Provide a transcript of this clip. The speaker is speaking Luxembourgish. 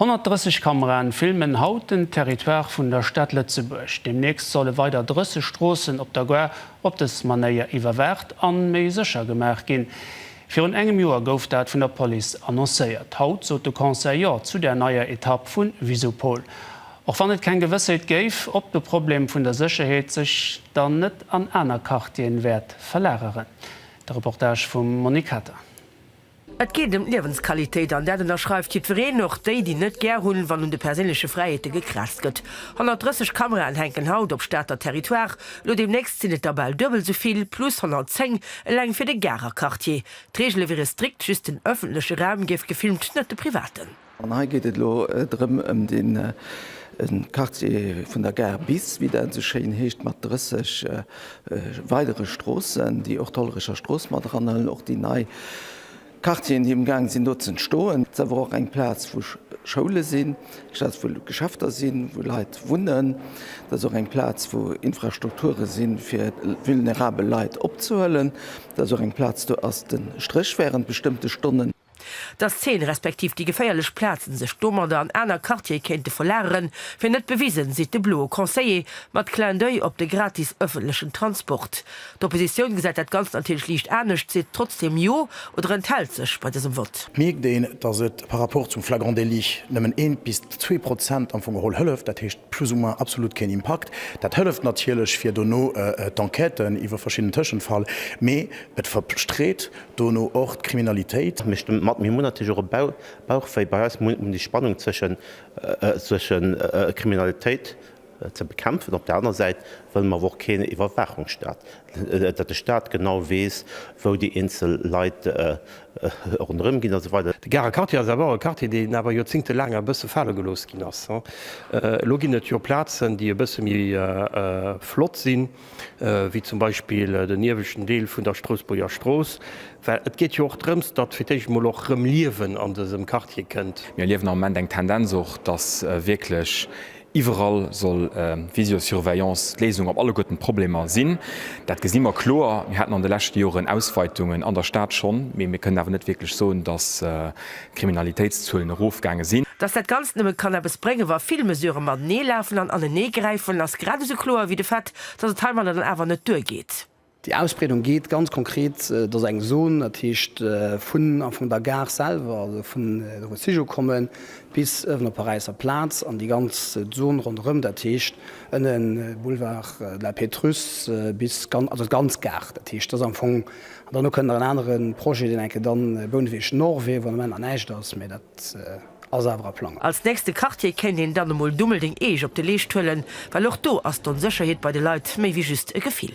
130 Kameraen filmen haut den Territoire vun der Stad Lëtzebuerg. Deemnächst solle weider 30 Stroossen op der Gare op dës Manéier iwwerwaacht an méi sécher gemaach ginn. Virun engem Joer gouf dat vun der Police annoncéiert. Haut sot de Conseil Jo zu der neier Etapp vu Visupol. Och wann et keng Gewëssheet géif, ob de Problem vun der Sécherheet sech dann net an aner Quartieren wäert verlageren. De Reportage vum Monique Kater. Et geet ëm d'Liewensqualitéit, an dat ënnerschreift jiddwereen, och déi, déi net gär hunn, wann un de perséinleche Fräiheete gekratzt gëtt. 130 Kameraen hänken haut op Stater Territoire, elo deemnächst sinn et der bal duebel esou vill, plus 110 eleng fir de Garer Quartier. D'Reegele wiere strikt, just den ëffentleche Raum géif gefilmt, net de privaten. An hei geet et elo drëm ëm de Quartier vun der Gare bis, wéi dat esou schéin heescht, mat 30 weidere Stroossen, déi och d'Hollerecher Strooss mat eranhëllen, och déi nei Quartieren, déi amgaang sinn do z'entstoen. Et ass awer och eng Plaz, wou Schoule sinn, eng Plaz, wou Geschäfter sinn, wou Leit wunnen. Et ass och eng Plaz, wou Infrastrukture si fir vulnerabel Leit opzehuelen. Et ass och eng Plaz, do ass de Stréch wärend bestëmmte Stonnen. Dass d'Zeen respektiv déi geféierlech Plazen sech domadder an aner Quartiere kéinte verlageren, wier net bewisen, seet de bloe Conseiller mat Clin d'oeil op de gratis ëffentlechen Transport. D'Oppositioun gesäit dat Ganzt natierlech liicht anescht, seet trotzdeem Jo oder enthält sech bei dësem Vott. Mierkt een, dass et par rapport zum flagrant délit nëmmen een bis zwee Prozent am Fong geholl hëlleft, dat heescht plus ou moins absolut keen Impakt. Dat hëlleft natierlech fir dono d'Enquêten iwwer verschidden Tëschenfall, mee et verstreet Dono och d'Kriminalitéit. Mir stëmme mat. Mir hunn natierlech och e Bauchwéi. Bei eis muss déi Spannung zwësche Kriminalitéit ze bekämpfen. Op der anerer Säit wëlle mer awer och keen Iwwerwaachungsstaat, datt de Staat genau weess, wou déi eenzel Leit ronderëm ginn, a sou weider. De Garer Quartier ass awer och e Quartier, deen awer joerzéngtelaang e bësse fale gelooss ginn ass. Elo ginn et jo Plazen, déi e bësse méi flott sinn. wéi zum Beispill den ieweschten Deel vun der Strousbuerger Strooss, well et geet jo och drëms, datt fir d'éischt emol och rëm Liewen an dësem Quartier kënnt. Mir erliewen am Moment eng Tendenz och, datt wierklech iwwerall soll Visiosurveillance d'Léisung op alleguerten d'Problemer sinn. Dat gesi mer kloer. Mir haten an de leschte Joren Ausweitungen an der Stad schonn, mee mir kënnen awer net wierklech soen, datt Kriminalitéitszuelen erofgaange sinn. Dass dat Ganzt nëmme kann eppes bréngen, wa vill Mesurë matenee lafen an anenee gräifen, ass grad esou kloer wéi de Fait, dass et heimadder dann awer net duergeet. Déi Ausbreedung geet ganz konkret, et ass eng Zon, dat heescht vun am Fong der Gare selwer, also vun do wou d'Zich ukommen, bis uewen op d'Paräisser Plaz an déi ganz Zon ronderëm, dat heescht ënnen Boulevard de la Pétrusse bis, also d'ganz Gare. Dat heescht, dat ass am Fong An dann kënnt nach en anere Projet, deen enke dann Bouneweg Nord wier, wou am Ament nach näischt ass, mä dat ass awer a Plange. Als nächste Quartier kéint een dann emol Dummeldeng Eech op de Leescht huelen, well och do ass d'Onsécherheet bei de Leit méi wéi just e Gefill.